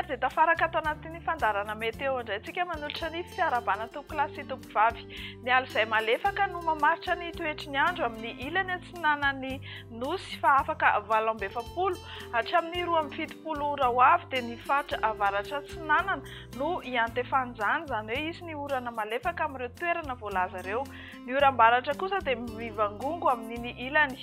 dia tafaraka ato anatin'ny fandarana meteo indray tsika manolotra ny fiarabana tompo kilasy tompo vavy ny alo izay malefaka no mamaritra ny toetry ny andro amin'ny ilany atsinanan'ny nosy fa afaka valambefampolo hatramin'ny roa amin'ny fitopolo ora ho avy dia ny faritra avaratra atsinanana no iantefan'izany, izany hoe hisy ny orana malefaka amin'ireo toerana voalaza ireo. Ny oram-baratra kosa dia mivangongo amin'iny ilany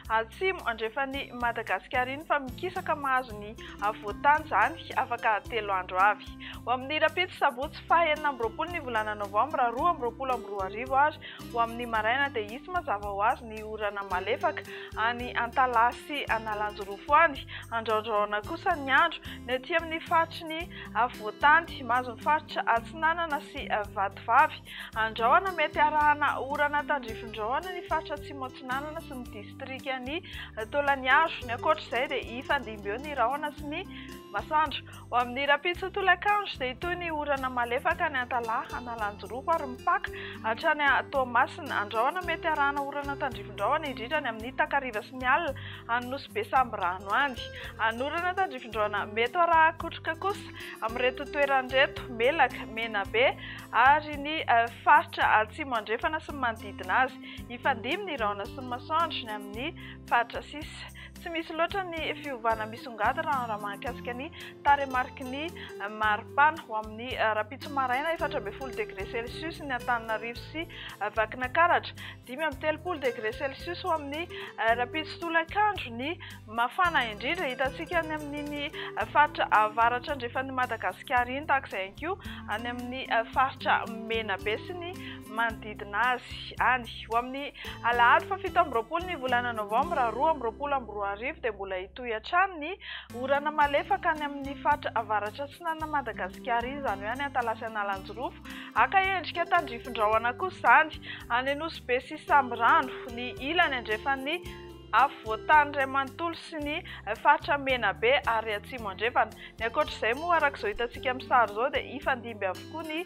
atsimo andrefan'i Madagasikara iny fa mikisaka mahazo ny afovoan-tany izany afaka telo andro avy. Ho amin'ny rahampitso sabotsy faha enina amby roapolo ny volana novambra roa amby roapolo amby roa arivo ary ho amin'ny maraina dia hisy mazava ho azy ny orana malefaka any Antalaha sy Analanjirofo any andraondraona kosa ny andro ny aty amin'ny faritry ny Afovoantany, Mahazo ny faritra Atsinanana sy Vatovavy. Andrahona, Mety harahana orana tandrifindrahona ny faritra Atsimo Atsinanana sy ny distrikan'i Taolagnaro. Ny ankoatra izay dia hifandimby eo ny rahona sy ny masoandro. Ho amin'ny rahampitso tolakandro dia hitohy ny orana malefaka any Antalaha, Analanjirofo ary mipaka hatrany Toamasina. Andrahona, Mety harahana orana tandrifindrahona indrindra any amin'ny takariva sy ny alina. any Nosy be Sambirano any. Anorana tandrifindraona mety ho arahan-kotroka kosa amin'ireto toerana ireto, Melaka, Menabe ary ny faritra atsimo andrefana sy ny manodidina azy. Hifandimby ny rahona sy ny masoandro ny amin'ny faritra sisa. Tsy misy loatra ny fiovana misongadina raha mahakasika ny tarehimariky ny maripana. Ho amin'ny rahampitso maraina, efatra ambin'ny folo degre celsius ny Antananarivo sy Vakinakaratra. Dimy amby telopolo degré celsius ho amin'ny rahampitso tolakandro ny mafana indrindra hitantsika any amin'iny faritra avaratra andrefan'i Madagasikara iny, tahaka izay ihany koa any amin'ny faritra Menabe sy ny manodidina azy any. Ho amin'ny alahady fahafito amby roapolo ny volana novambra roa amby roapolo amby roa arivo dia mbola hitohy hatrany ny orana malefaka any amin'ny faritra avaratra atsinanan'i Madagasikara iny, izany hoe any Antalasan'Alanjirofo. Haka endrika tandrifin-drahona kosa izany, any Nosy-Be sy Sambirano, ny ilany andrefan'ny afovoan-tany iray manontolo sy ny faritra Menabe ary Atsimo Andrefana. Ny ankoatra izay moa, araka izao hitantsika amin'ny sary izao, dia hifandimby avokoa ny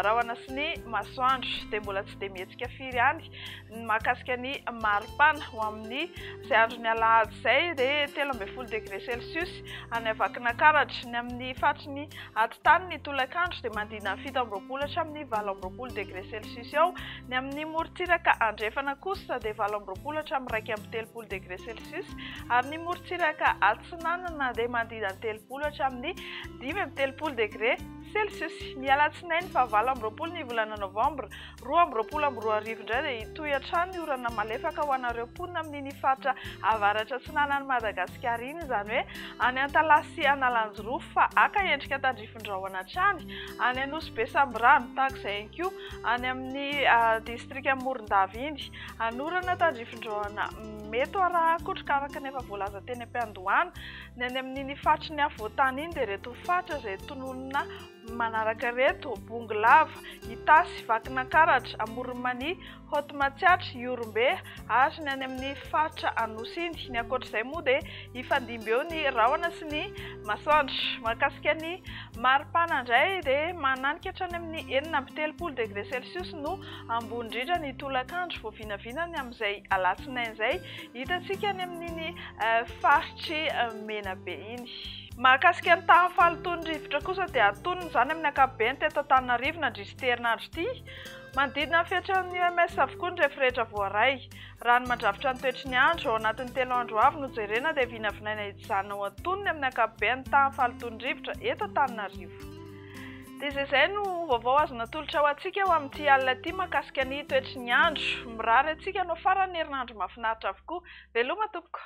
rahona sy ny masoandro, dia mbola tsy dia mihetsika firy ihany ny mahakasika ny maripana ho amin'ny izay andron'ny alahady izay dia telo ambin'ny folo degre celsius any Vakinankaratra. Ny amin'ny faritry ny atitany ny tolakandro dia manodidina ny fito amby roapolo hatramin'ny valo amby roapolo degre celsius eo. Ny amin'ny morontsiraka andrefana kosa dia valo amby roapolo hatramin'ny iraika amby telopolo degre celsius ary ny morontsiraka atsinanana dia manodidina ny telopolo hatramin'ny dimy amby telopolo degre celsius. Ny alatsinainy fahavalo amby roapolo ny volana novambra Roa amby roapolo amby roa arivo indray dia hitohy hatrany ny orana malefaka ho anareo mponina amin'iny faritra avaratra atsinanan'i Madagasikara iny, izany hoe any Antalaha sy Analanjirofo fa haka endrika tandrifin-drahona hatrany any Anosibe Sambirano, tahak'izay ihany koa any amin'ny distrikan'i Morondava iny. Hanorana tandrifin-drahona mety ho arahan-kotroka araka ny efa voalaza teny am-piandohana. Ny any amin'iny faritry ny afovoan-tany iny dia ireto faritra izay tononina manaraka reto, Bongolava, Itasy, Vakinankaratra, Amoron'i Mania, Haute Matsiatra, Ihorombe ary ny any amin'ny faritra Anosy iny. Ny ankoatra izay moa dia hifandimby eo ny rahona sy ny masoandro. Mahakasika ny maripana indray dia mananika hatrany amin'ny enina amby telopolo degre celsius no ambony indrindra ny tolakandro vao vinavina ny amin'izay alatsinainy izay hitantsika any amin'iny faritry Menabe iny. Mahakasika ny tahan'ny fahalotoan'ny rivotra kosa dia antonony izany amin'ny ankapobeny teto Antananarivo nandritry ity herinandro ity. Manodidina ny fetran'ny UMS avokoa ny refirehetra voaray. Raha ny mandrafitra ny toetry ny andro, ao anatin'ny telo andro avy no jerena dia vinavinaina hijanona ho antonony amin'ny ankapobeny ny tahan'ny fahalotoan'ny rivotra eto Antananarivo. Dia izay izay no vaovao azo natolotra ho antsika ho amin'ity alina ity mahakasika ny toetry ny andro. Mirary antsika hanao faran'ny herinandro mahafinaritra avokoa. Veloma tompoko!